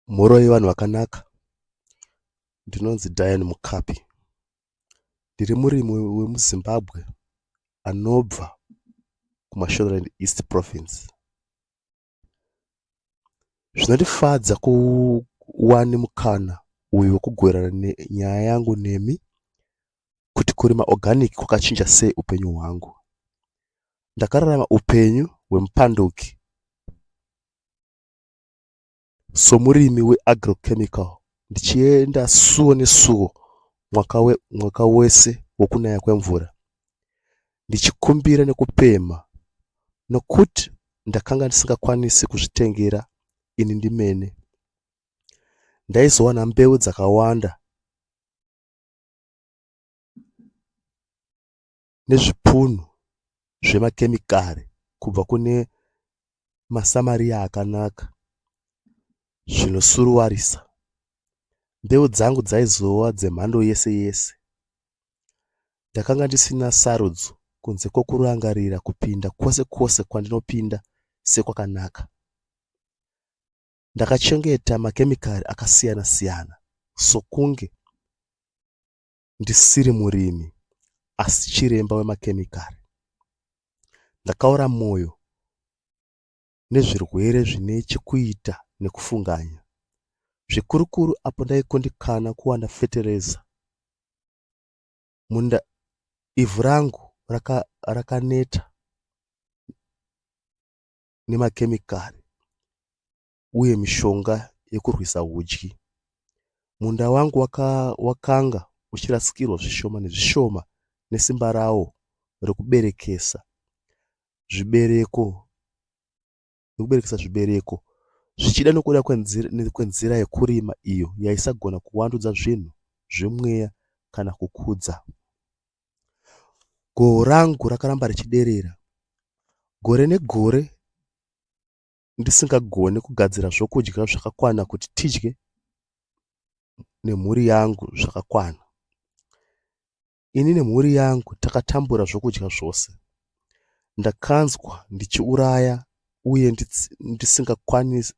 mhoro yevanhu vakanaka ndinonzi dian mukapi ndiri murimi wemuzimbabwe anobva kumashoreland east province zvinondifadza kuwani mukana uyu wekugwerana nyaya yangu nemi kuti kurima organic kwakachinja sei upenyu hwangu. Ndakararama upenyu hwemupanduki somurimi weagrochemical ndichienda suo nesuo mwaka, we, mwaka wese wokunaya kwemvura ndichikumbira nekupemha nokuti ndakanga ndisingakwanisi kuzvitengera ini ndimene ndaizowana mbeu dzakawanda nezvipunu zvemakemikari kubva kune maSamariya akanaka zvinosuruvarisa. Mbeu dzangu dzaizova dzemhando yese yese. Ndakanga ndisina sarudzo kunze kwokurangarira kupinda kwose kwose kwandinopinda sekwakanaka. Ndakachengeta makemikari akasiyana siyana sokunge ndisiri murimi asi chiremba wemakemikari. Ndakaora mwoyo nezvirwere zvine chekuita nekufunganya, zvikurukuru apo ndaikundikana kuwana fetereza munda. Ivhu rangu rakaneta nemakemikari uye mishonga yekurwisa hudyi. Munda wangu waka, wakanga uchirasikirwa zvishoma nezvishoma nesimba rawo rekuberekesa zvibereko nekuberekesa zvibereko zvichida nokuda kwenzira yekurima iyo yaisagona kuwandudza zvinhu zvemweya kana kukudza Goho rangu rakaramba richiderera gore negore ndisingagone kugadzira zvokudya zvakakwana kuti tidye nemhuri yangu zvakakwana. Ini nemhuri yangu takatambura zvokudya zvose. Ndakanzwa ndichiuraya uye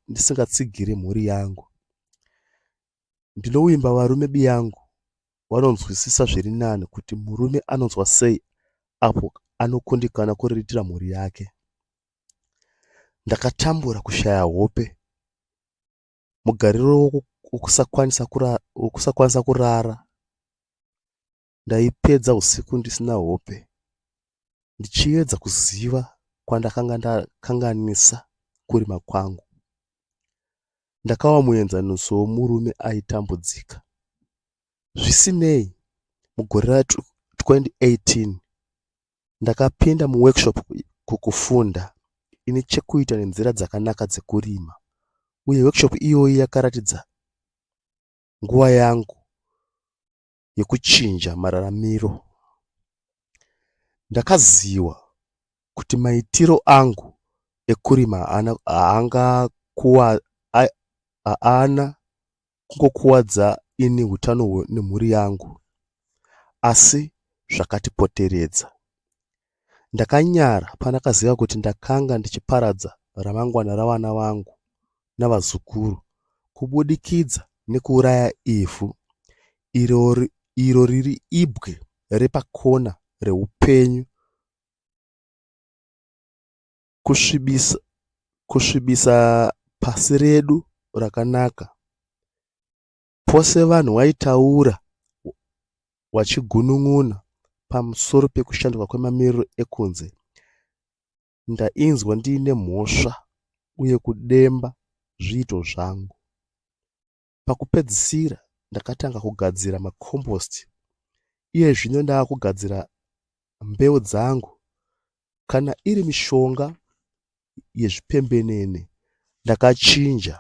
ndisingatsigiri mhuri yangu. Ndinovimba varume biyangu vanonzwisisa zviri nani kuti murume anonzwa sei apo anokundikana kuriritira mhuri yake. Ndakatambura kushaya hope mugariro wokusakwanisa kurara Ndaipedza usiku ndisina hope ndichiedza kuziva kwandakanga ndakanganisa kurima kwangu. Ndakawa muenzaniso womurume aitambudzika. Zvisinei, mugore ra 2018 ndakapinda muworkshop kukufunda ine chekuita nenzira dzakanaka dzekurima uye workshop iyoyi yakaratidza nguva yangu yekuchinja mararamiro. Ndakaziva kuti maitiro angu ekurima haana kungokuvadza ini utano nemhuri yangu asi zvakatipoteredza. Ndakanyara pandakaziva kuti ndakanga ndichiparadza ramangwana ravana vangu navazukuru kubudikidza nekuuraya ivhu iro riri ibwe repakona reupenyu kusvibisa, kusvibisa pasi redu rakanaka. Pose vanhu waitaura wachigunun'una pamusoro pekushanduka kwemamiriro ekunze, ndainzwa ndiine mhosva uye kudemba zviito zvangu. Pakupedzisira ndakatanga kugadzira macompost iye zvino ndava kugadzira mbeu dzangu kana iri mishonga yezvipembenene ndakachinja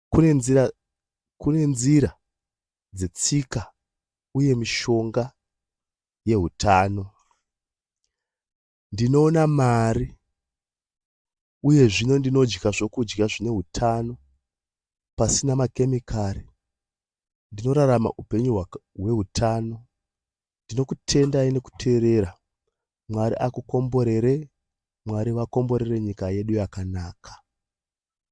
Kune nzira, kune nzira dzetsika uye mishonga yehutano. Ndinoona mari uye zvino ndinodya zvokudya zvine hutano pasina makemikari. Ndinorarama upenyu hwaka, hweutano. Ndinokutendai nekuteerera. Mwari akukomborere, Mwari vakomborere nyika yedu yakanaka.